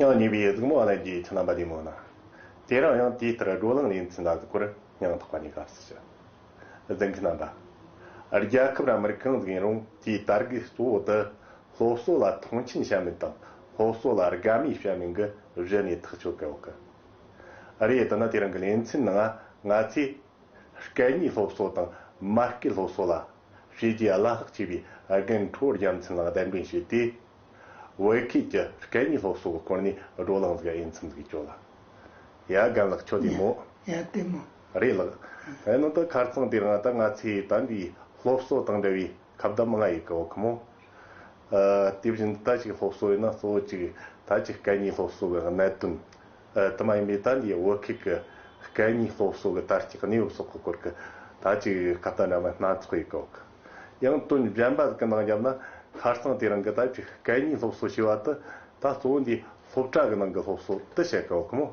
ཡང་ཉེ་བའི་གཟུགས་མ་བ་ལན་གྱི་ཁྱིམ་རྣམ་པ་དེ་མོ་ན། དེ་རང་ཡང་དེའི་ལྟར་བགྲོ་གླེང་ལས་འཛིན་ལ་གཟིགས་པར་ཡང་དག་པ་ནས་དགའ་བསུ་བྱ། གཟིགས་མཁན་རྣམ་པ། རྒྱལ་ཁབ་ར་མིར་གང་གཟིགས་ཡིན་རུང་དེའི་དར་གི་གཙོ་བོ་དུ། སློབ་གསོ་ལ་མཐོང་ཆེན་བྱ་མི་དང་སློབ་གསོ་ལ་དགའ་མོས་བྱ་མིན་གྱི་གཞི་ནས་ཐག་གཅོད་དགོས་ཀི་རེད་དེ་ནི་དེ་རིང་གི་གླེང་ཚན་ནང་ང་ཚོས་སྐད་གཉིས་སློབ་གསོ་དང་མ་སྐད་སློབ་གསོ་ལ་བྱས་རྗེས་བླ་ལྷག་ཆེ་བའི་རྒན་གྲོལ་རྒྱལ་མཚན་ལགས་གདན་འདྲེན་བྱས་ཏེ་བོད་ཁུལ་གྱི་སྐད་གཉིས་སློབ་གསོ་གི་སྐོར་ནས་བགྲོ་གླེང་བཟོས་འོས་འཚམས་ཞིག་བྱོས་ལ། ཡ་རྒན་ལགས་ཁྱོད་བདེ་མོ། ཡ་བདེ་མོ། རེད་ལགས། དེ་ནི་ད་ཁར་ཚང་དེ་རིང་ད་ང་ཚོས་དམ་པའི་སློབ་གསོ་དང་འབྲེལ་བའི། ཁ་བརྡ་མི་ང་ཡིག་གོ་གི་མོ། དེ་བཞིན་དུ་ད་ཅིག་སློབ་གསོ་ཡིན་ན་གཙོ་བོ་གཅིག་ད་ཅིག་སྐད་གཉིས་སློབ་གསོ་གི་གནད་དོན། དུ་མ་ཡིན་པའི་ད་འདིའི་བོད་སྐད་ཀྱི་སྐད་གཉིས་སློབ་གསོ་གི་ད་ཅིག་གནས་བབ་སོགས་ཀྱི་སྐོར་གྱི་ད་ཅིག་ཁ་བརྡ་འདྲ་མིན་སྣ་ཚོགས་ཡིག་གོ་གི། ཡང་དོན་གཞན་པ་གི་ནང་བརྒྱབ་ན་ཁར་སང་དེ་རིང་གི་ད་ཅིག་སྐད་གཉིས་སློབ་གསོ་ཞེས་པ་དུ་ད་གཙོ་བོ་འདིའི་སློབ་གྲྭ་གི་ནང་གི་སློབ་གསོ་དེ་བྱེད་དཀའ་བ་ཁོ་མོ།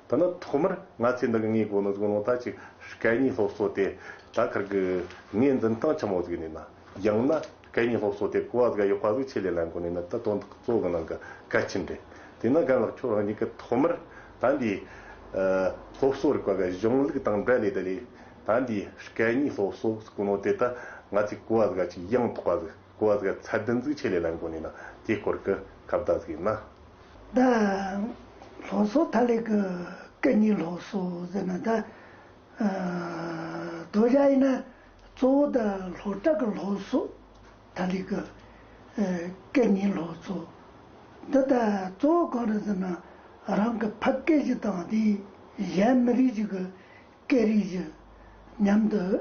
དེ་ནི་ཐོག་མར་ང་ཚོས་འདི་གི་ངའི་གོ་ནོར་གཟུགས་ནོར་དག་ཅིག་སྐད་གཉིས་སློབ་གསོ་དེ་དག་ཁར་གི་ངའི་འཛིན་སྟངས་ཆེན་མོ་གཟིགས་ནས་ན། ཡང་ན་སྐད་གཉིས་སློབ་གསོ་དེ་གོ་བ་དག་ཡོད་པ་གཟིགས་ཆེད་ལས་ལ་འགོ་ནས་ན་དེ་དོན་དག་གཙོ་བོ་གི་ནང་གི་གལ་ཆེན་རེད། དེས་ན་རྒན་ལགས་ཁྱོད་རང་ཉིད་ཀྱིས་ཐོག་མར་ད་འདིའི། སློབ་གསོ་རིག་པ་གི་གཞུང་ལུགས་དང་འབྲེལ་ལས་དེ་ལས། ད་འདིའི་སྐད་གཉིས་སློབ་གསོ་གོ་ནོར་དེ་དག་ང་ཚོས་གོ་བ་དག་ཅིག་ཡང་དག་པ་གཟིགས། བཀོད་གཟིགས་ཚད་ལྡན་གཟིགས་ཆེད་ལས་ལ་མགོ་ནས་ན་དེའི་སྐོར་གྱི་ཁ་བརྡ་གཟིགས་ན། ད་ལྷོ་སོག་ཐ་ལེ་གི་ཀ་ཉི་ལྷོ་སོག་ཟེར་ན་ད་དོ་བཞག་ཡིན་ན་གཙོ་བོ་ད་ལྷོ་བྲག་གི་ལྷོ་སོག་ཐ་ལེ་གི་ཀ་ཉི་ལྷོ་སོག་འདི་ད་གཙོ་བོ་གང་རེད་ཟེར་ན་རང་གི་ཕ་སྐད་ཅིག་དང་དེའི་གཞན་མི་རིགས་ཅིག་གི་སྐད་རིགས་ཅིག་མཉམ་དུ།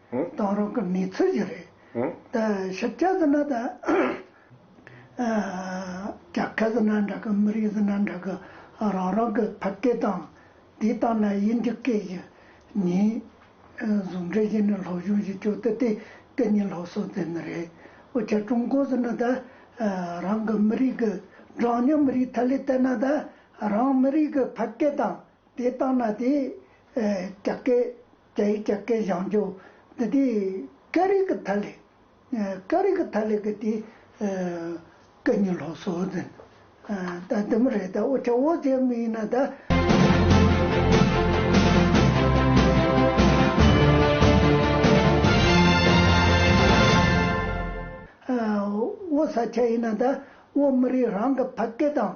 གཏོང་རོགས་གི་མི་ཚོད་ཅིག་རེད། ད་ཞིབ་ཆ་ཟེར་ན་ད། རྒྱ་སྐད་ཟེར་ན་འདྲ་གི་མི་རིགས་ཟེར་ན་འདྲ་གི་རང་རང་གི་ཕ་སྐད་དང། དེ་ལྟ་ན་དབྱིན་ཇི་སྐད་ཞིག་ཉིན། ཟུང་འབྲེལ་བྱས་ནས་ལྷོ་གཞུང་ཞིག་བྱུང་སྟེ་དེ་སྐད་གཉིས་ལྷོ་སོག་ཟེར་ནི་རེད། འོ་ཆ་ཀྲུང་གོ་ཟེར་ན་ད། རང་གི་མི་རིགས་ཀྱི་གྲངས་ཉུང་མི་རིགས་ཐད་ལས་བལྟས་ན་ད། རང་མི་རིགས་ཀྱི་ཕ་སྐད་དང་དེ་ལྟ་ན་དེ། རྒྱ་སྐད། རྒྱ་ཡིག་ཀྱང་སྐད་བཞག་འཇུག་འདི་དེ་ཀ་རིག་གི་ཐ་ལེ། ཀ་རིག་གི་ཐ་ལེ་གི་དེ་ཀ་ཉི་ལྷོ་སོ་ཟེར་ད་དེ་མི་རེད་ད་འོ་ཆ་འོ་ཟེར་མི་ཡིན་ན་ད། འོ་ཟ་ཆ་ཡིན་ན་ད་འོ་མི་རིགས་རང་གི་ཕ་སྐད་དང།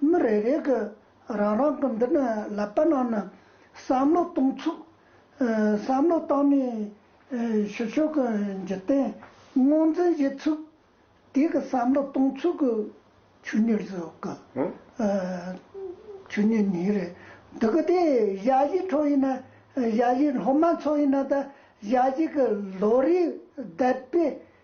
མི་རེ་རེ་གི་རང་རང་གི་འདི་ནི་ལབ་པ་ནང་ནས་བསམ་བློ་གཏོང་ཚུལ། བསམ་བློ་བཏང་ནས་ཞུ་ཕྱོགས་ཀྱི་འཇིག་རྟེན་དངོས་འཛིན་བྱེད་ཚུལ། དེ་གི་བསམ་བློ་གཏོང་ཚུལ་གྱི་ཆོས་ཉིད་རེད་གི། ཆོས་ཉིད་ཉིད་རེད་འདུག་གི་དེ་གཞའ་གཞས་ཁྲོད་ཡིན་ན་གཞའ་གཞས་སློབ་མ་ཚོ་ཡིན་ན་ད་གཞའ་གཞས་ཀྱི་ལོ་རེའི་དད་པའི་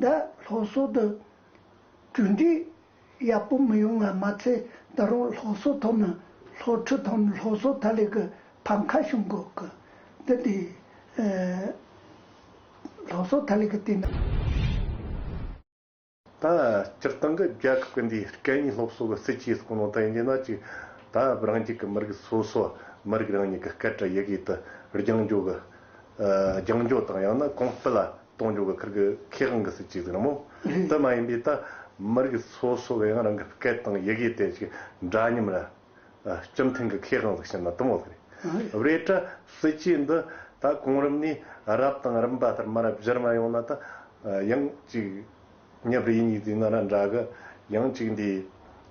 ཟླ་ལྷོ་སོག་ཏུ་གྲུ་འགྲིག་ཡག་པོ་མི་ཡོང་བ་མ་ཚད་ད་རུང་ལྷོ་སོག་ཐོག་ན་ལྷོ་ཁྲི་ཐོག་ན་ལྷོ་སོག་ད་ལེ་གི་ཕམ་མཁའ་གཞུང་གི་གི་འདི་དེ་ལྷོ་སོག་ད་ལེ་གི་དེ་ན། ད་སྤྱིར་བཏང་གི་རྒྱལ་ཁབ་ཀྱི་འདིའི་སྐད་གཉིས་སློབ་གསོ་གི་སྲིད་ཇུས་སུ་གོ་ནོ་ད་ཡིན་རྒྱུ་ན་གཅིག་ད་རང་རྒྱུད་ཀྱི་མི་རིགས་སོ་སོ་མི་རིགས་རང་ཉིད་ཀྱི་སྐད་བྲ་ཡི་གིས་དུ་རྒྱང་འགྱོ་གི་རྒྱང་འགྱོ་དང་ཡང་ན་གོང་སྤེལ་ལ་གཏོང་རྒྱུ་ག་ཁར་གི་ཁེ་གང་གི་སྲིད་ཅིག་ཟིག་ར་མོ། དེ་མ་ཡིན་པའི་ད་མར་གི་སོ་སོ་བའི་ཡང་རང་གི་སྐད་དང་ཡི་གེ་དེ་ཅིག་འདྲ་སྙམ་ར། སྤྱི་མཐུན་གི་ཁེ་གང་ཟིག་བཤད་ན་དུམ་བོ་ཟིག་རེད། རེད་གྲ་སྲིད་ཅིག་འདི་ད་གོང་རིམ་ནས་རབ་དང་རིམ་པ་ལྟར་མ་རབ་གཞིར་མ་ཡོང་ན་ད་ཡང་ཅིག་ཉེ་བར་ཡིན་གཉིས་ཟིག་ན་ར་འདྲ་གི། ཡང་ཅིག་འདི་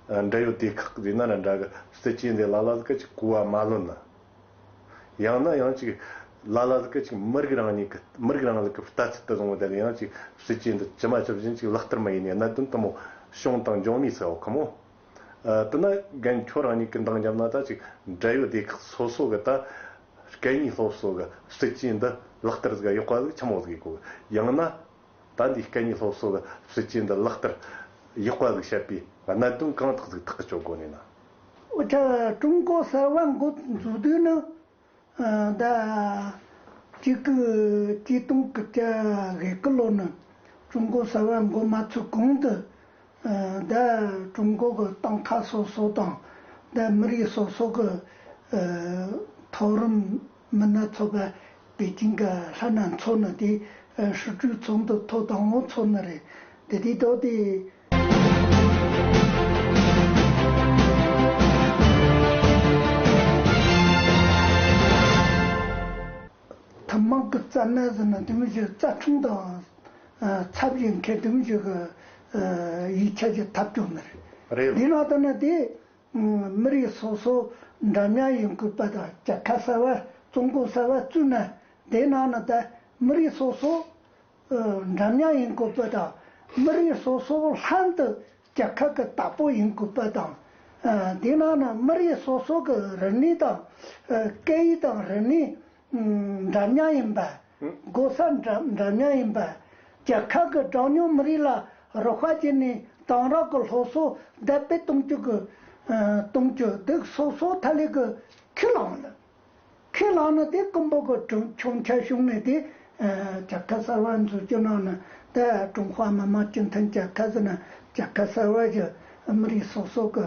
འདྲ་ཡོད་དེ་ཁག་ཟིག་ན་ར་འདྲ་གི་སྲིད་ཅིག་འདི་ལ་ལ་ཟིག་ག་ཅིག་གོ་བ་མ་ལོན་ན། ཡང་ན་ཡང་ཅིག། ལ་ལ་ལ་ཀི་ཅིག་མི་རིགས་རང་ཉིད་ཀི་མི་རིགས་རང་ལ་ཀི་ལྟ་ཚུལ་དུ་བཟུང་བ་དེ་ལ་ཡང་ཅིག་སྲིད་སྐྱེས་འདི་ཇི་མ་ཇི་བཞིན་ཅིག་ལག་བསྟར་མ་ཡིན་ནས་གནད་དོན་དུ་མོ་བྱུང་དང་འབྱུང་མི་སྲིད་ཁོ་མོ། དེ་ན་རྒན་ཁྱོད་རང་ཉིད་ཀི་འདང་རྒྱབ་ན་ད་ཅིག་འབྲེལ་ཡོད་སྡེ་ཁག་སོ་སོ་གི་ད་སྐད་གཉིས་སློབ་གསོ་གི་སྲིད་སྐྱེས་འདི་ལག་བསྟར་གཟིགས་ཡག་པ་གཟིགས་ཆ་མོ་གཟིགས་གོ་ཡང་ན། ད་འདིའི་སྐད་གཉིས་སློབ་གསོ་གི་སྲིད་སྐྱེས་འདི་ལག་བསྟར་ཡག་པ་གཟིགས་བཤད་པའི་གནད་དོན་གང་དག་གཟིགས་ཐག་གི་ཆོད་དགོ་ནས་ན། དབུ་ཁྲིད་ཀྲུང་གོ་གསར་བ་འགོ་འཛུགས་དུས་ནི་ཟླ་གཅིག་གི་དུས་སྟོང་གི་བཅའ་བཞི་གི་ལོ་ནི་ཀྲུང་གོ་གསར་བ་འགོ་མ་ཚུགས་གོང་དུ་ཟླ་ཀྲུང་གོ་གི་ཏང་ཁག་སོ་སོ་དང་ཟླ་མི་རིགས་སོ་སོ་གི་མཐོ་རིམ་མི་སྣ་ཚོགས་པ་པེ་ཅིང་གི་ལྷ་སྣ་ཚོགས་ནི་དེའི་ཧྲུའུ་ཀྲུའུ་ཚོགས་འདུ་ཐོག་དང་བོ་ཚོགས་ནི་རེད། དེ་དུས་ཐོག་དེའི། ཐུན་མོང་གི་རྩ་སྣ་ཟེར་ན་དེ་མི་ཞིག་རྩ་ཁྲུང་དང། ཚབ་བྱེད་མཁན་དེ་མི་ཞིག་གི་ཡིག་ཆ་ཀྱི་ཐབས་སྐྱོང་ནི་རེད། འདིའི་ནང་དུ་ནི་དེའི་མི་རིགས་སོ་སོ་འདྲ་མཉམ་ཡིན་དགོས་པ་དང་བཅད་ཁ་གསར་བ་བཙོང་གོ་གསར་བ་བཙུགས་ན་དེའི་ནང་ན་ད་མི་རིགས་སོ་སོ་འདྲ་མཉམ་ཡིན་དགོས་པ་དང་མི་རིགས་སོ་སོ་ལྷན་དུ་བཅད་ཁ་གི་བདག་པོ་ཡིན་དགོས་པ་དང། དེའི་ནང་ན་མི་རིགས་སོ་སོ་གི་རིག་གནས་དང་སྐད་ཡིག་དང་རིག་གནས། འདྲ་མཉམ་ཡིན་པ། སྒོ་ས་འདྲ་མཉམ་ཡིན་པ། རྒྱལ་ཁབ་ཀྱི་གྲངས་ཉུང་མི་རིགས་ལ་རོགས་པ་བྱས་ནས་གཏང་རག་གི་སློབ་གསོ་དར་སྤེལ་གཏོང་རྒྱུ། གཏོང་རྒྱུ། སྡུག་སོག་སོག་ཐ་ལི་གི་ཁས་བླངས་ལ། ཁས་བླངས་ནི་དེ་ཀོང་པོ་གི་གྲོན་ཆུང་ཁྱད་གཞུང་ནས་དེ་རྒྱལ་ཁབ་གསར་བ་འཛུགས་རྒྱུ་གནང་ནས་དེ་ཀྲུང་ཧྭ་མི་དམངས་སྤྱི་མཐུན་རྒྱལ་ཁབ་ཟེར་ནས་རྒྱལ་ཁབ་གསར་བ་བཞི་མི་རིགས་སོ་སོ་གི་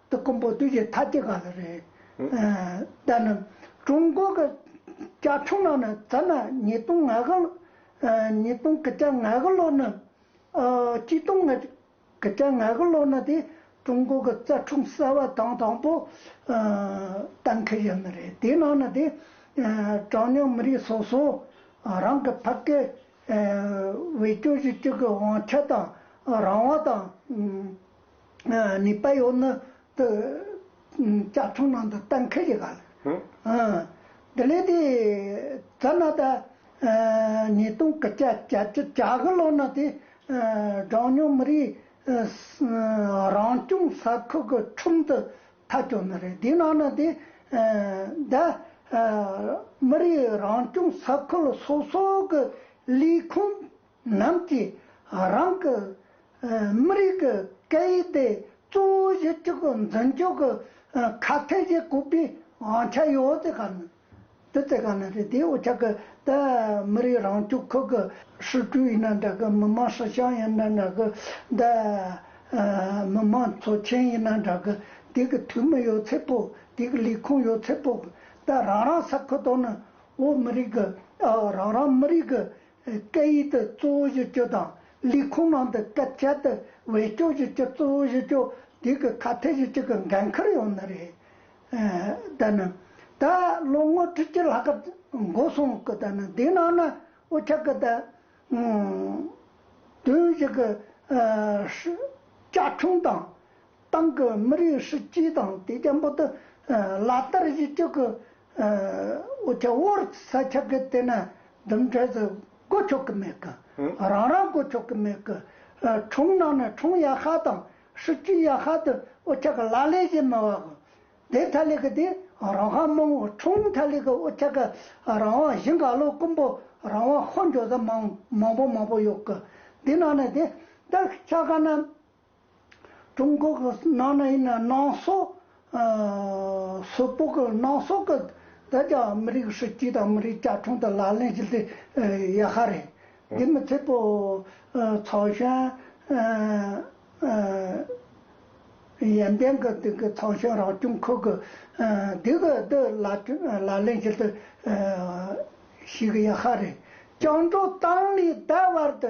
ཏུ་དཀོན་པོ་བདུད་ཀྱི་ཐ་ཀྱི་ག་ལ་རེད། ད་ནི་ཀྲུང་གོ་གི་བཅའ་ཁྲིམས་ནང་ནས་ད་ནི་ཉིས་སྟོང་ང་དགུ་ཉིས་སྟོང་གི་བཅའ་ང་དགུ་ལོ་ནི་གཅིག་སྟོང་ང་གི་བཅའ་ང་དགུ་ལོ་ནི་དེ་ཀྲུང་གོ་གི་བཅའ་ཁྲིམས་གསལ་བ་དང་དང་པོ་གཏན་འཁེལ་ཡོད་ནི་རེད་དེའི་ནང་ནས་དེ་གྲངས་ཉུང་མི་རིགས་སོ་སོ་རང་གི་ཕ་སྐད་བེད་སྤྱོད་བྱེད་སྤྱོད་ཀྱི་དབང་ཆ་དང་རང་དབང་དང། ནི་པ་ཡོ་ནི་ཏི་ཅག་ཚོགས་ནང་དུ་ལྟ་མཁས་ཀྱི་ག་ལ། འདི་ལས་ཏི་ཙ་ན་ཏ་ནི་སྟོང་གི་ཅ་ཅ་ཅག་གི་ལོ་ན་ཏི་གྲངས་ཉུང་མི་རིགས་རང་སྐྱོང་ས་ཁུལ་གྱི་ཁྲོམ་དུ་ཐ་སྐྱོ་ནི་རེད་དེའི་ནང་ན་ཏི་ད་མི་རིགས་རང་སྐྱོང་ས་ཁུལ་སོ་སོ་གི་ལས་ཁུངས་རྣམས་ཀྱིས་རང་གི་མི་རིགས་ཀྱི་སྐད་ཡིག་དེ་གཙོ་བོ་གཞི་གཅིག་གི་འཛིན་སྐྱོང་གི་ཁ་གཏད་བཞེས་དགོས་པའི་དབང་ཆ་ཡོད་དེ་ག་ནི་དེ་དེ་ག་ནི་རེད་དེའི་འོ་ཆ་གི་ད་མི་རིགས་རང་སྐྱོང་ཁུལ་གྱི་ཧྲུའུ་ཅུའུ་ཡིན་ན་འདྲ་གི་མི་དམངས་ཧྲི་ཞང་ཡིན་ན་འདྲ་གི་ད་མི་དམངས་ཚོ་ཆེན་ཡིན་ན་འདྲ་གི་དེ་གི་འཐུས་མི་ཡོད་ཚད་པོ་དེ་གི་ལས་ཁུངས་ཡོད་ཚད་པོ་གི་ད་རང་རང་ས་ཁུལ་དང་ནི་འོ་མི་རིགས་གི་ཨ་རང་རང་མི་རིགས་གི་སྐད་ཡིག་ཏུ་གཙོ་བོ་བཞི་བཅུ་དང་ལས་ཁུངས་མང་དུ་སྐད་ཆ་དུ་བས་སྐྱོག་བཞི་བཅུ་གཙོ་བོ་བཞི་བཅུ་དུས་ཀྱི་ཁ་ཐེ་བཞི་བཅུ་གི་འགན་ཁུར་ཡོང་ནི་རེད། ད་ནི་ད་ལོ་ངོ་ཁྲི་གཅིག་ལྷག་གི་འགོ་སོང་གི་ད་ནི་དེའི་ནང་ན་འུ་ཅག་གི་ད་དུས་བཞི་གི་བཅའ་ཁྲིམས་དང་ཏང་གི་མི་རིགས་སྲིད་ཇུས་དང་དེ་རྒྱ་འབོད་དུ་ལག་བསྟར་བཞི་བཅུ་གི་ཨོ་ཆ་བོར་ས་ཆ་གི་སྟེང་ན་ལྡུམ་འཕྲལ་དུ་སྒོ་ཆོག་གི་མེད་གི། རང་རང་སྒོ་ཆོག་གི་མེད་གི། གྲོང་ནང་ནས་གྲོང་ཡ་ཤ་དང་ཧྲི་ཀྲི་ཡ་ཤ་དུ་ཨོ་ཆ་གི་ལ་ལས་བྱེད་མི་བ་གི། དེ་ཐ་ལི་གི་དེ་རང་ཤ་མང་བོ་གྲོང་ཐ་ལི་གི་ཨོ་ཆ་གི་རང་དབང་བཞི་འགག་ལོ་ཀུན་པོ་རང་དབང་ཤོ་འཇོག་ས་མང་མང་པོ་མང་པོ་ཡོད་གི། དེ་ནང་ནས་དེ་ལྟར་ཆ་ག་ན་ཀྲུང་གོ་གི་ནང་ནས་ཡིན་ན་ནང་སོག་སོག་པོ་གི་ནང་སོག་གི་དེ་རྒྱ་མི་རིགས་སྲིད་ཇུས་དང་མི་རིགས་བཅའ་ཁྲིམས་དེ་ལག་ལེན་བྱེད་དུ་ཡོད་ཧ་རེད། དེ་མི་ཚད་པོ་ཚོགས་གཞོན་ཡན་ཏན་གྱི་དེ་གི་ཚོགས་གཞོན་རང་སྐྱོང་ཁུལ་གྱི་དེ་གི་དེ་ལག་ལེན་བྱེད་དུ་ཞུགས་ཡོད་ཧ་རེད། བཅིངས་འགྲོལ་བཏང་ནས་ད་བར་དུ་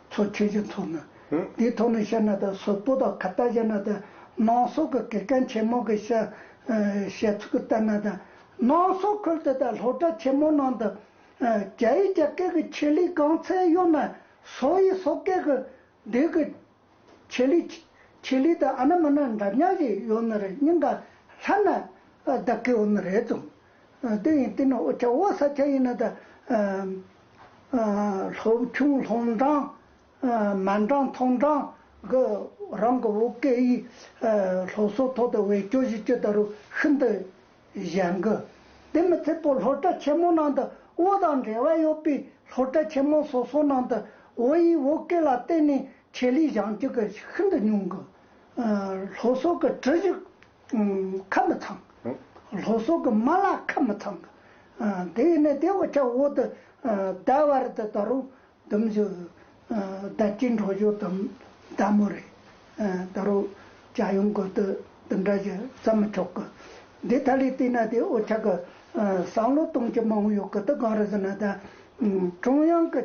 ཚོ་ཁྱོད་ཀྱི་མཚོ་ནི། དེའི་ཐོག་ནས་བཤད་ན་ད་གཟོད་སྤུ་དང་ཁ་བཏགས་བཞག་ན་ད། ནང་སོག་གི་གེ་ཀན་ཆེན་མོ་གི་བཤད་ཚུལ་ལྟར་ན་ད། ནང་སོག་ཁུལ་དེ་དག་ལྷོ་བྲག་ཆེན་མོའི་ནང་དུ། རྒྱ་ཡིག་རྒྱ་སྐད་ཀྱི་ཆེད་ལས་སྒང་ཚད་གཡོག་ན། སོག་ཡིག་སོག་སྐད་ཀྱི་སྡེ་གི་ཆེད་ལས། ཆེད་ལས་དང་ཨ་ན་མ་ན་འདྲ་མཉམ་ཞིག་ཡོད་ནི་རེད་སྙིང་ག་ལྷ་ན་ད་གེ་བོ་ནི་རེད་བྱུང། དེ་ཡིན་དེ་ནི་ཨོ་ཆ་བོ་ས་ཆ་ཡིན་ན་ད། ལྷོ་ཆུང་ལྷོ་འབྲང། མ་འབྲང་མཐོ་འབྲང་གི་རང་གི་བོད་སྐད་ཡིག་སློབ་གསོ་ཐོག་ཏུ་བེད་སྤྱོད་བྱེད་སྤྱོད་ད་རུང་ཤིན་ཏུ་ཞན་གི། དེ་མི་ཚད་པོ་སློབ་གྲྭ་ཆེན་མོ་ནང་དུ་བོད་དང་འབྲེལ་བ་ཡོད་པའི་སློབ་གྲྭ་ཆེན་མོ་སོ་སོ་ནང་དུ་བོད་ཡིག་བོད་སྐད་ལ་བརྟེན་ནས་ཆེད་ལས་བཞེངས་སྤྱོད་ཤིན་ཏུ་ཉུང་གི། སློབ་གསོ་གི་གྲུ་གཞི། ཁབ་མི་ཚང། ལྷོ་སོག་གི་མ་ལ་ཁབ་མི་ཚང། དེ་ཡིན་ནི་དེ་འོ་ཆ་འོག་ཏུ་བདའ་བར་དུ་ད་རུང་དུམ་བཞི་བདའ་སྐྱིད་འགྲོ་བཞུགས་དུམ་བདའ་མོ་རེད། ད་རུང་བྱ་ཡུམ་དགོན་དུ་དུམ་བདའ་བཞི་བརྩམ་མི་ཆོག་གི། འདི་ཐ་ལི་བལྟས་ན་དེ་འོ་ཆ་གི་བསམ་བློ་གཏོང་ཁྱི་མང་པོ་ཡོད་གི་འདི་གང་རེད་ཟེར་ན་ད་ཀྲུང་དབྱང་གི་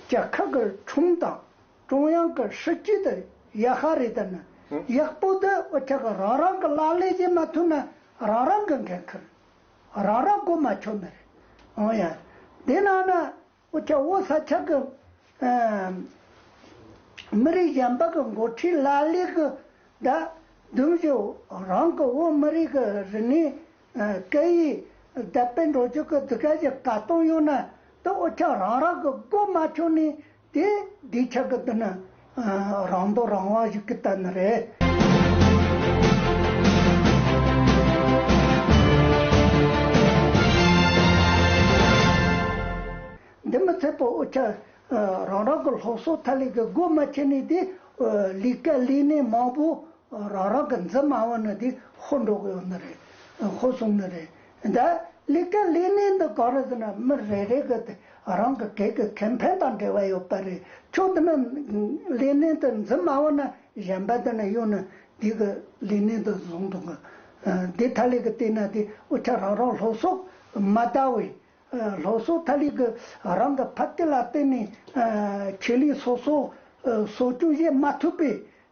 བཅའ་ཁག་གི་ཁྲོམ་དང། ཀྲུང་དབྱང་གི་སྲིད་ཇུས་དེ་ཡག་ཤ་རེད་དེ་ནི་ཡག་པོ་འདུག་དབུ་ཕྱུག་གི་རང་རང་གི་ལག་ལས་ཀྱིས་མ་ཐུབ་ན་རང་རང་གི་འགན་ཁུར་རང་རང་སྒོ་མ་ཕྱུག་མི་རེད་འོང་ཡ། དེ་ནང་ན་དབུ་ཕྱུག་བོ་ས་ཆ་གི་མི་རིགས་གཞན་པ་གི་འགོ་ཁྲིད་ལ་ལས་གི་ད་དུང་བཞུགས་རང་གི་བོད་མི་རིགས་གི་རིག་གནས་སྐད་ཡིག་དད་པའི་འགྲོ་སྐྱོད་གི་དུས་སྐལ་ཞིག་ག་སྟོང་ཡོད་ན་དེ་དབུ་ཕྱུག་རང་རང་གི་སྒོ་མ་ཕྱུག་ནས་དེ་འདི་ཆགས་ཀྱི་འདི་ནི། རང་མདོག་རང་དབང་ཞིག་གི་ལྟ་ན་རེ། འདི་མི་ཚད་པའོ་ཆ། རང་རང་གི་སློབ་གསོ་ཐ་ལིག་གི་སྒོ་མ་ཕྱེ་ནས་དེ། ལིག་ཀ་ལིག་ནས་མང་པོ། རང་རང་གི་འཛིན་མ་བ་ནི་དེ་ཧོ་འགྲོ་གི་ཡོད་ནི་རེད། ཧོ་སོང་ནི་རེད། ད་ལི་ཀ་ལི་ནི་འདི་གང་རེད་ཟེར་ན་མི་རེ་རེ་གི་དེ་རང་གི་གེགས་ཀྱི་ཁེ་ཕན་དང་འབྲེལ་བ་ཡོད་པ་རེད་ཁྱོད་འདི་ན་ལི་ནི་འདི་འཛིན་སྨྲ་བ་ན་གཞན་པ་འདི་ན་གཡུག་ན་འདི་གི་ལི་ནི་འདི་བཟུང་འདུག་གི་འདི་ཐ་ལི་ཀི་བལྟས་ན་དེ་འུ་ཆ་རང་རང་ལྷོ་སོག་མ་ལྟ་བས་ལྷོ་སོག་ཐ་ལི་ཀི་རང་གི་ཕ་སྐད་ལ་བལྟས་ནས་ཁེ་ལི་སོ་སོ་སོ་སྐྱུག་བཤད་མ་ཐུབ་པས་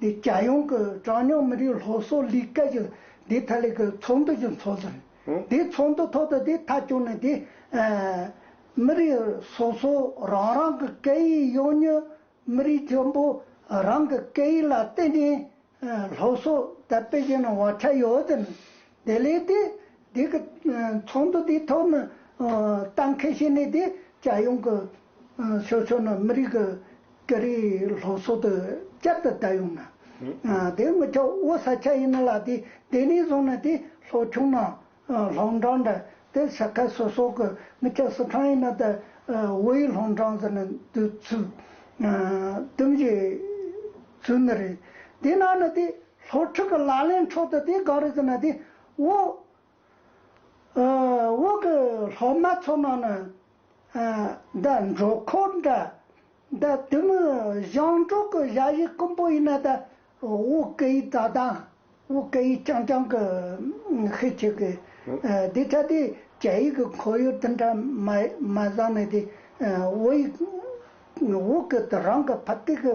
འདི་རྒྱལ་ཡོངས་ཀྱི་གྲངས་ཉུང་མི་རིགས་སློབ་གསོ་ལས་ཀ་ཞིག་འདི་ཐད་ལས་ཀའི་ཚོགས་འདུ་ཞིག་འཚོགས་ཟིན། དེའི་ཚོགས་འདུ་ཐོག་ཏུ་འདི་མཐའ་སྐྱོང་ནས་འདི། མི་རིགས་སོ་སོ་རང་རང་གི་སྐད་ཡིག་གཡོ་ཉོས་མི་རིགས་ཆེན་པོ་རང་གི་སྐད་ཡིག་ལ་བརྟེན་ནས་སློབ་གསོ་དར་སྤེལ་བྱས་ནས་བག་ཆགས་ཡོད་ཟིན། དེ་ལས་དེ་འདི་གི་ཚོགས་འདུ་འདི་ཐོག་ནས་གཏན་འཁེལ་བྱས་ནས་འདི་རྒྱལ་ཡོངས་ཀྱི་ཕྱོགས་ཕྱོགས་ནས་མི་རིགས་ཀྱི་སྐྱ་རིས་ལྷོ་སོག་ཏུ་བསྐྱར་དུ་བསྡད་ཡོང་ན། དེ་དངུལ་ཁྱོག་དབུ་ས་ཆ་ཡིན་ན་ལ་དེ་དེ་ནས་བཟུང་ན་དེ་ལྷོ་ཁྱུང་ན་ལྷོང་འབྲང་འདྲ་དེ་ས་ཁ་སོ་སོག་གི་དངུལ་ཁྱོག་སི་ཁྲང་ཡིན་ན་ད་དབུ་ཡི་ལྷོང་འབྲང་ཟེར་ན་དུ་ཚུག་དུམ་བཞི་ཚུག་ནི་རེད་དེ་ན་ནི་དེ་ལྷོ་ཕྲུག་གི་ལག་ལེན་འཕྲོག་དུ་དེ་གང་རེད་ཟེར་ན་དེ་དབུ། འོག་གི་སློབ་མ་ཚོ་ནང་ནས་ད་འགྲོ་འཁོར་འདྲ། ད་དུས་མི་གཞང་གྲོགས་ཀྱི་བཞའ་ཡིག་དཀོན་པོ་ཡིན་ན་ད་འོག་གི་ཡིག་ད་དང་འོག་གི་ཡིག་རྐྱང་རྐྱང་གི་ཤེས་ཆེ་གི། དེ་ཆ་དེ་རྒྱ་ཡིག་གི་འཁོར་ཡུག་དེ་འདྲ་མ་བཟང་ནས་དེ་འོག་ཡིག་འོག་གི་རང་གི་ཕ་སྟེགས་ཀྱི།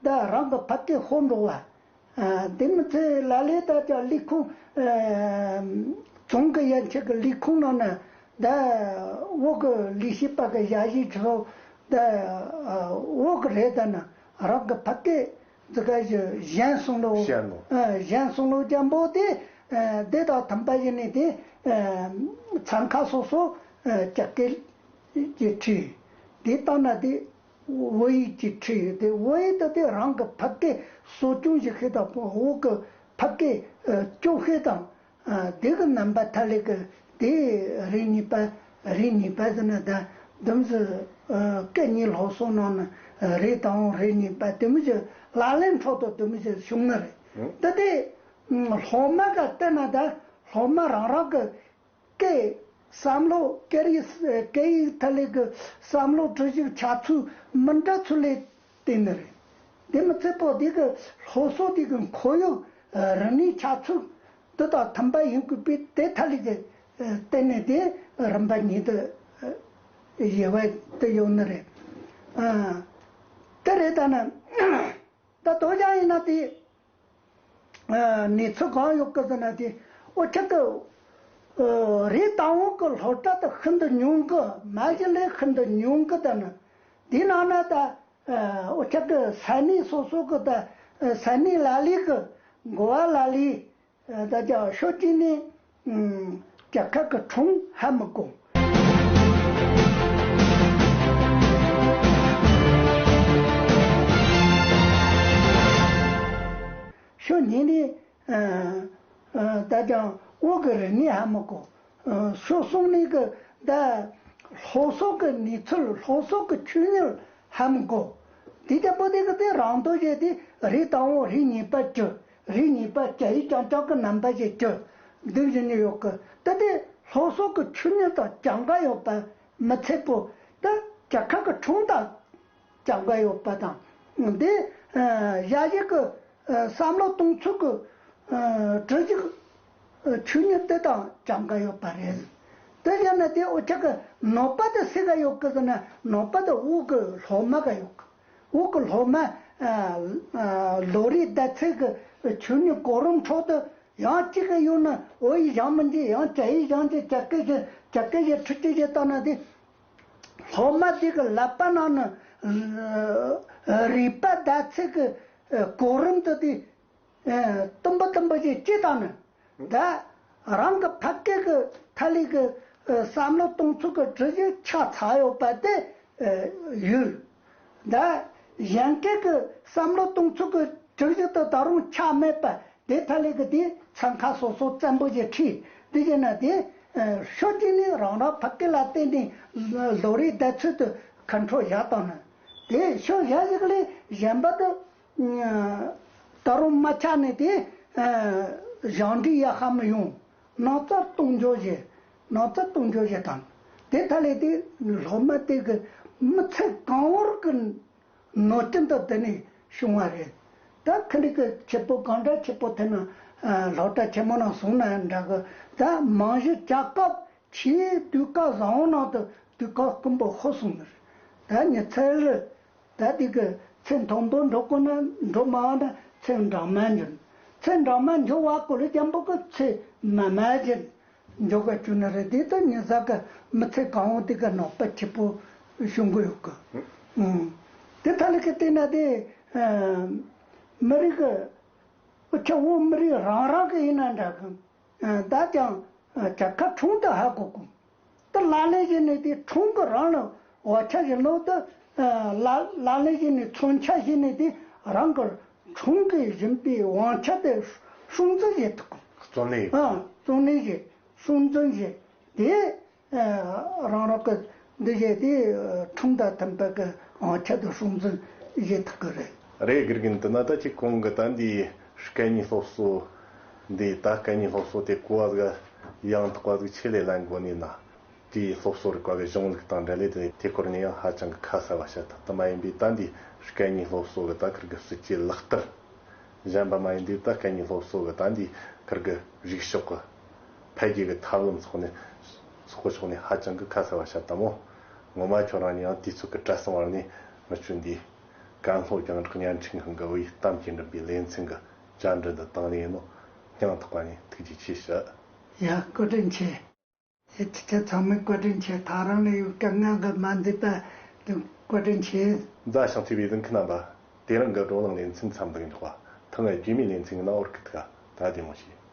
ད་རང་གི་ཕ་སྐད་ཤོར་འགྲོ་བ། དེ་མི་ཚེ་ལ་ལས་ད་ཆ་ལས་ཁུངས། རྫོང་གི་ཡན་ཆད་ཀྱི་ལས་ཁུངས་ནང་ནས། ད་འོག་གི་ལས་བྱེད་པ་གི་ཞྭ་བཞིན་ཆུ། ད་འོག་གི་རེ་ད་ན་རང་གི་ཕ་སྐད་ཛི་ཀ་ཞི་གཞན་གསུང་ལོ། གཞན་ལོ། གཞན་གསུང་ལོ་རྒྱ་འབོ་དེ། དེ་དང་མཐུན་པ་ཡིན་ནི་དེ། ཚན་ཁག་སོ་སོ་ཀྱི་སྐད་ཀྱི་ཁྲིད། དེ་ལྟ་ན་དེ། བོད་ཡིག་ཅེས་བྲིས་ཡོད་དེ་བོད་ཡིག་ཏུ་དེ་རང་གི་ཕ་སྐད་གསོ་སྐྱོང་བྱེད་མཁན་དང་བོད་ཀྱི་ཕ་སྐད་སྐྱོབ་མཁན་དང། དེ་གི་རྣམ་པ་ཐ་ལེ་གི་དེ་རིགས་གཉིས་པ་རིགས་གཉིས་པ་ཟེར་ན་བདག་དུམ་ཟུ་སྐད་གཉིས་ལྷོག་སོང་ནང་ན་རིགས་དང་བོ་རིགས་གཉིས་པ་དུམ་བཞི་ལག་ལེན་ཐོག་ཏུ་དུམ་བཞི་བྱུང་ན་རེད་དེ་དེ་ལྷོག་མ་ག་བལྟས་ན་བདག་ལྷོག་མ་རང་རང་གི་ཀའི་བསམ་བློ་ཀེ་རི་ཀའི་ཐད་ལས་ཀའི་བསམ་བློ་ཁྲོད་ཞུགས་ཆ་ཚུལ་མི་འདྲ་ཚུལ་ལས་དེ་ནི་རེད། དེ་མི་ཚད་པོ་དེ་གི་སློབ་གསོ་དེ་གི་འཁོར་ཡུག་རིག་གནས་ཆ་ཚུལ་དེ་དང་མཐུན་པ་ཡིན་དགོས་པས་དེ་ཐད་ལས་ཀའི་སྟེང་ནས་དེ་རིམ་པ་ཉིད་དུ་ཡོད་པ་དེ་ཡོད་ནི་རེད། དེ་རེད་ད་ནི་ད་དོ་ཅང་ཡིན་ན་དེ། ནས་ཚུར་གང་ཡོང་སྐུ་ཟེར་ན་དེ་ཨོ་ཁྱི་ཏི། རེད་རྟ་བོང་གི་ལྷོ་བྲག་ཏུ་ཤིན་ཏུ་ཉུང་གི་མ་གཞི་ལས་ཤིན་ཏུ་ཉུང་གི་དང། དེའི་ནང་ན་ད་ཨོ་ཁྱི་ཏི་ས་གནས་སོ་སོ་གི་ད་ས་གནས་ལ་ལས་གི་འགོ་བ་ལ་ལས་ད་ཅག་ཤོ་ཀྲི་ནི་རྒྱ་གར་གི་གྲོང་ཧ་མི་གོ། ཤོ་ནི་ནི་ད་ཅག་ཨོ་གི་རི་ནི་ཧ་མི་གོ། ཤོ་གསུང་ནི་གི་ད་ལྷོ་སོག་གི་ནི་ཚུལ་ལྷོ་སོག་གི་ཆུ་ཉུལ་ཧ་མི་གོ། དེ་ཀྱང་པོ་ཏི་གི་ཏི་རང་དུ་བཞེད་དེ་རི་དང་བོ་རི་གཉིས་པ་བཅུ། རིགས་གཉིས་པ་བཅའ་ཡིག་ཀྱང་ལྕགས་ཀྱི་རྣམ་པ་ཞིག་སྤྱོད་བསྡུས་བཞིན་ནི་ཡོད་ཀི་ཏི་དེ་ལྷོ་སོག་གི་ཆུ་སྣོད་དང་བྱ་འགའ་ཡོད་པ་མི་ཚད་པོ་ཏི་བྱ་ཁ་གི་ཁྲུང་དང་བྱ་འགའ་ཡོད་པ་དང་དེ་བཞའ་ཞིག་གི་བསམ་བློ་གཏོང་ཚུལ་གི་གྲུ་ཞིག་ཆུ་སྣོད་ཏི་དང་བྱ་འགའ་ཡོད་པ་རེད་ཏི་བཞའ་ན་དེ་འོ་ཆ་གི་ནོར་པ་ཏི་སི་ག་ཡོད་ཀི་ཟེར་ན་ནོར་པ་ཏི་དབུག་གི་ལྷོ་མ་ག་ཡོད་ཀི། དབུགས་ཀྱི་ལྷོ་མ། ལོ་རེའི་ཟླ་ཚེས་ཀྱི་ཆུ་ནི་གོ་རིམ་འཕྲོག་དུས། ཡང་གཅིག་གི་གཡོན་ན་ཨོ་ཡི་གཞང་མི་འཇིག་ཡང་ཇ་ཡི་གཞང་འཇིག་བྱ་སྐད་བཞིན་བྱ་སྐད་བཞིན་ཁྲུ་ཅི་ཞེས་བཏགས་ན་དེ། ལྷོ་མ་འདི་གི་ལག་པ་ན་ནི། རུས་པ་ཟླ་ཚེས་ཀྱི་གོ་རིམ་དུ་དེ། སྟོན་པ་སྟོན་པ་ཆོས་སྤྱི་དང་ནི་འདྲ། རང་གི་ཕ་སྐད་ཀྱི་ཐ་ལིག་གི་བསམ་བློ་གཏོང་ཚུལ་གྱི་གྲུ་གཞི་ཆ་ཚང་ཡོད་པ་དེ་ཡོད། འདྲ། གཞན་སྐད་ཀྱི་བསམ་བློ་གཏོང་ཚུལ་གྱི་གྲུ་གཞི་དུ་ད་རུང་ཆ་མེད་པ་དེ་ཐ་ལིག་གི་དེའི་ཚན་ཁག་སོ་སོ་བཙན་པོ་ཞེས་ཁྲིད་འདི་བྱས་ན་དེ་ཤོད་ཀྱི་ནི་རང་རང་ཕ་སྐད་ལ་བརྟེན་ནས་ལོ་རེའི་བརྡ་ཚུལ་དུ་མཁའ་འགྲོ་བཞག་དང་ནི་དེ་ཤོད་བཞག་ཞིག་ལས་གཞན་པ་དུ་ད་རུང་རྨ་ཆ་ནི་དེ། གཞང་འབྲི་ཡ་ཧ་མི་ཡོང། ནགས་རྩྭ་བཏུང་འཇོག་བྱེད། ནགས་རྩྭ་བཏུང་འཇོག་བྱེད་དང། དེ་མཐའ་ལས་དེ་ལྷོ་མ་སྟེ་གི་མི་ཚེ་གང་བོར་གི། ནོར་སྐྱིན་དུ་དེ་ནི་བྱུང་བ་རེད། ད་ཁ་འགྲིག་གི་ཆུ་བོ་གང་འདྲ་ཆུ་བོ་དེ་ན། ལྷོ་བྲག་ཆེན་མོ་ན་བཟུང་ན་འདྲ་གི། ད་མང་གཞི་བཅའ་སྐབས་ཕྱིའི་དུས་བཀག་བཟང་བོ་ནང་དུ་དུས་བཀག་ཀུན་པོ་ཧོ་སོང་གི་རེད། ད་ཉི་ཚེ་རི། ད་དུས་ཀྱི་ཚེ་མཐོན་པོ་འགྲོ་དཀོན་ན་འགྲོ་མང་བ་ན་ཚེ་འབྲང་མ་འབྱོན། ཚེ་འབྲང་མ་འབྱོན་བ་ཀོ་ལི་སྐྱམ་པོ་ཀྱི་ཚེ་མ་མ་འབྱོན། འཇོ་ག་ཅུ་ན་རི་དེ་དང་ཉི་ཟ་ག་མི་ཚེ་གང་བོ་དེ་ག་ནོག་པ་ཆེ་པོ་བྱུང་གི་ཡོད་གི། དེ་ཐ་ལི་ཀི་བལྟས་ན་དེ་མི་རིགས་ཀྱི་ཆུ་བོ་མི་རིགས་རང་རང་གི་ཡིན་ན་འདྲ་གི། ད་ཀྱང་བྱ་ཁ་འཁྲུངས་དུ་ཧ་གོ་གི། ཏུ་ལག་ལེན་བྱས་ནས་དེའི་དྲུང་དུ་རང་ལ་བ་ཕྱག་གི་ནོར་དུ་ལག་ལེན་བྱས་ནས་མཚོན་ཆ་བྱས་ནས་དེ་རང་གི་དྲུང་གི་བཞིན་པའི་དབང་ཆ་དེ་སྲུང་འཛིན་བྱེད་དོ། བརྩོན་ལེན་བྱེད་དོ། བརྩོན་ལེན་བྱེད། སྲུང་འཛིན་བྱེད། དེ་རང་རང་གི་འདི་བྱས་ཏེ་དྲུང་དང་མཐུན་པའི་གི་དབང་ཆ་དེ་སྲུང་འཛིན་བྱེད་ཐུབ་ཀྱི་རེད། རེད་དགེ་རྒན་དེ་ན་ད་ཅིག་གོང་གི་ད་འདིའི་སྐད་གཉིས་སློབ་གསོ། འདི་ལྟར་སྐད་གཉིས་སློབ་གསོ་དེ་སྐུ་བ་གཟུགས་དབྱངས་དག་པ་གཟུགས་ཆེད་ལས་ལ་མགོ་གནོན་ན། དེས་སློབ་གསོ་རིག་པ་གི་གཞུང་ལུགས་དང་འབྲེལ་ལས་དེ་དེ་སྐོར་ནས་ཡང་ཧ་ཅང་གི་ཁ་གསལ་བ་བཤད་ཐུབ་ཐབས་མ་ཡིན་པས་ད་འདིས་སྐད་གཉིས་སློབ་གསོ་གི་ད་ཁུར་གི་སྲིད་ཇུས་ལག་བསྟར་གཞན་པ་མ་ཡིན་འདིས་ད་སྐད་གཉིས་སློབ་གསོ་གི་ད་འདིས་ཁུར་གི་རིག་ཕྱོགས་གི་འཕེལ་རྒྱས་གི་ཐབས་ལམ་སོགས་ནས་སོགས་ཀི་ཕྱོགས་ནས་ཧ་ཅང་གི་ཁ་གསལ་བ་བཤད་ཐབས་མོད། ངོ་མ་ཁྱོད་རང་ནས་ཡང་དུས་ཚོད་གི་བཀྲ་སྲང་བར་ནས་མི་ཆོད་འདིས། ཀན་ལྷོ་རྒྱང་བསྒྲགས་བརྙན་འཕྲིན་ཁང་གི་དབུས་གཏམ་གྱི་འགྲིམ་པའི་ལེ་ཚན་གི། བཅར་འདྲི་འདི་བཏང་ནས་ཡིན་ནོ། ཀྱང་ཐག་པ་ནས་ཐུགས་རྗེ་ཆེ་ཞུ། ཡ་བཀའ་དྲིན་ཆེ། ཡ་ཁྱེད་ཅག་ཚང་མས་བཀའ་དྲིན་ཆེ་ད་རང་ལས་ཡོད་དཀའ་ངལ་འགའ་མ་འདུས་པ་འདུག་བཀའ་དྲིན་ཆེ། མཛའ་ཞིང་བརྩེ་བའི་གདིང་ཁུ་རྣམ་པ། དེ་རིང་གི་བགྲོ་གླེང་ལེ་ཚན་མཚམས་འདེགས་འཇོག་པ་ཐོག་ངས་རྒྱུས་མེད་ལེ་ཚན་གི་གནའ་བོར་གི་ཐུགས་ཀ་ད་བདེ་མོ་བྱས།